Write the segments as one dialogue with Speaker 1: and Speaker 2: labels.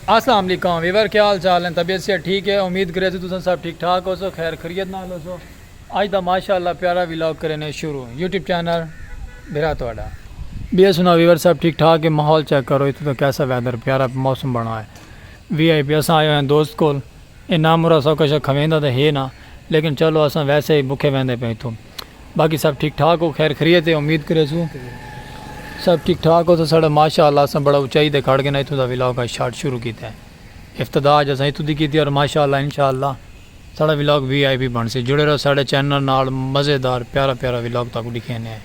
Speaker 1: اسلام علیکم ویور کیا حال چال ہیں طبیعت سے ٹھیک ہے امید کرے تو تساں سب ٹھیک ٹھاک ہو سو خیر خریت نال ہو سو اج دا ماشاءاللہ پیارا ویلاگ کرینے شروع یوٹیوب چینل بھرا تواڈا بیا سنا ویور سب ٹھیک ٹھاک ہے ماحول چیک کرو اتنے تو کیسا ویدر پیارا موسم بنا ہے وی آئی پی اساں آئے ہوئے ہیں دوست کول اے نام مرا سو کشا کھویندا تے ہے نا لیکن چلو اساں ویسے ہی بکھے ویندے پے اتھوں باقی سب ٹھیک ٹھاک ہو خیر خریت ہے امید کریسو سب ٹھیک ٹھاک ہو سو ساڑا ماشاء اللہ اساں بڑا اچائی تے کھڑ گینا اتھوں دا ولاگ اج شارٹ شروع کیتا ہے افتتاح اج اساں اتھوں دی کیتی اور ماشاء اللہ انشاء اللہ ساڑا ولاگ وی آئی پی بنسی جڑے رہو ساڑے چینل نال مزیدار پیارا پیارا ولاگ تہاکوں ڈکھینے ہیں۔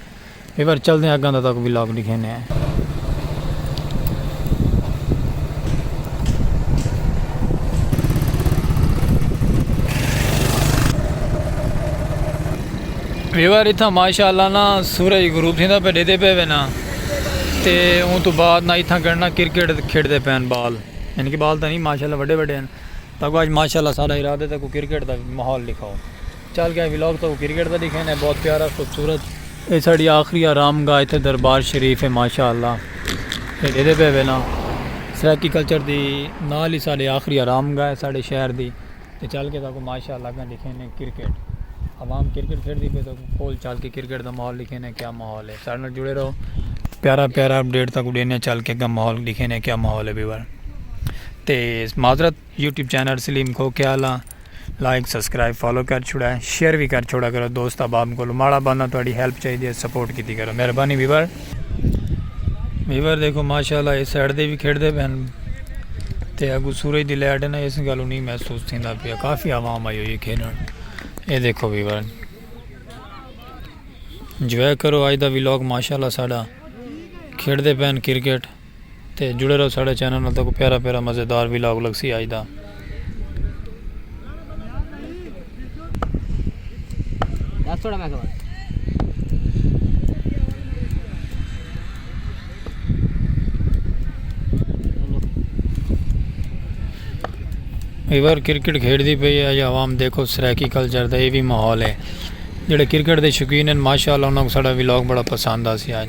Speaker 1: ایوار چلدیں اگاں دا تاکوں ولاگ ڈکھینے ہیں۔ ایوار اتھاں ماشاءاللہ نا سورج غروب تھیندہ پہ ڈیدے پہ وے نا تے اون تو بعد نا اتھاں گنڈنا کرکٹ کھیڑ دے پین بال یعنی کہ بال تھا نہیں ماشاءاللہ وڈے وڈے ہیں تاکہ آج ماشاءاللہ سارا ارادہ تاکہ کرکٹ دا ماحول لکھاؤ۔ چل گئے ولاگ تہاکوں کرکٹ دا ڈیکھین ہے بہت پیارا خوبصورت اے ساڈی آخری آرام گاہ ایتھے دربار شریف ہے ماشاءاللہ ایڈے دے پے وینا سرائیکی کلچر دی نال ہی ساڈے آخری آرام گاہ ہے ساڈے شہر دی تے چل کے تہاکوں ماشاءاللہ گاں ڈیکھین ہے کرکٹ عوام کرکٹ کھیڈ دی پے تہاکوں کول چل کے کرکٹ دا ماحول ڈیکھین ہے کیا ماحول ہے ساڈے نال جڑے رہو پیارا پیارا اپڈیٹ تہاکوں ڈینے چل کے گاں ماحول ڈیکھین ہے کیا ماحول ہے ویور تے معذرت یوٹیوب چینل سلیم کھوکھیال آں لائک سبسکرائب فالو کر چھوڑا ہے شیئر بھی کر چھوڑا کرو دوست احباب کو ماڑا بندہ تہاڈی ہیلپ چاہیے دی سپورٹ کیتی کرو مہربانی ویور ویور دیکھو ماشاءاللہ اس سائیڈ دے بھی کھیڑ دے بہن تے اگو سورج دی لائٹ ہے نا اس گالو نہیں محسوس تھیندا پیا کافی عوام آئی ہوئی کھیلن اے دیکھو ویور انجوائے کرو آج دا ویلوگ ماشاءاللہ ساڈا کھیڑ دے بہن کرکٹ تے جڑے رہو ساڑے چینل نال تہاکوں پیارا پیارا مزیدار ویلاگ لگسی اج دا۔ دس تھوڑا میں خبر ایور کرکٹ کھیڑ دی پئی ہے یا عوام دیکھو سرائیکی کلچر دا یہ بھی ماحول ہے جڑے کرکٹ دے شکین ہیں ماشاءاللہ انہاں کو ساڑا ویلاگ بڑا پسند آسی آج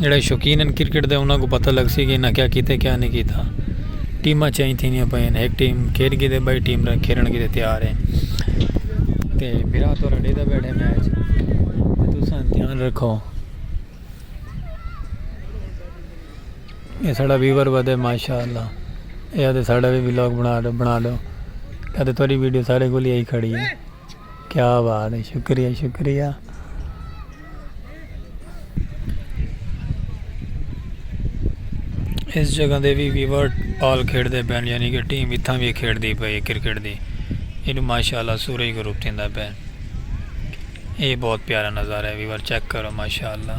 Speaker 1: جیڑھے شوقین ہن کرکٹ دے انہاں کو پتہ لگ سی کہ انہاں کیا کیتے کیا نہیں کیتا۔ ٹیماں چینج تھیندیاں پئے ہیں۔ ایک ٹیم کھیڈ گی تے بائی ٹیم رہ کھیڈن گی تے تیار ہیں۔ تے میرا تو رڈی دا بیٹھے میچ۔ تساں دھیان رکھو۔ یہ ساڑھا ویور ودے ماشاءاللہ۔ یہ آتے ساڑھا بھی ویلوگ بنا دو۔ یہ آتے توڑی ویڈیو ساڑھے گولی آئی کھڑی ہے۔ کیا بات ہے شکریہ شکریہ اس جگہ دے بھی ویور پال کھیڑ دے پین یعنی کہ ٹیم اتھاں بھی کھیڑ دی پئی کرکٹ دی انہوں ماشاءاللہ سورج گروپ تھیں دا پین یہ بہت پیارا نظارہ ہے ویور چیک کرو ماشاءاللہ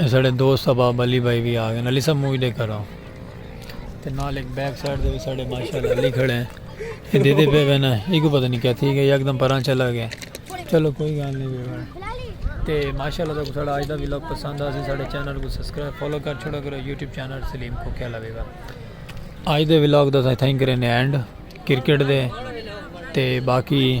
Speaker 1: اساڈے دوست احباب علی بھائی وی آگئے علی صاحب مووی ڈیکھ کر رہا ہوں تے نال ایک بیک سائیڈ دے ساڈے ماشاءاللہ علی کھڑے ہیں یہ دے دے پہ وینا یہ کو پتہ نہیں کیا تھی گیا یکدم پراں چلا گیا چلو کوئی گال نہیں بیوار تے ماشاءاللہ تو ساڈا اج دا ویلوگ پسند آ سی ساڈے چینل کو سبسکرائب فالو کر چھوڑا کرو یوٹیوب چینل سلیم کو کیا لوے گا اج دے ویلوگ دا تھا تھینک کرے نے اینڈ کرکٹ دے تے باقی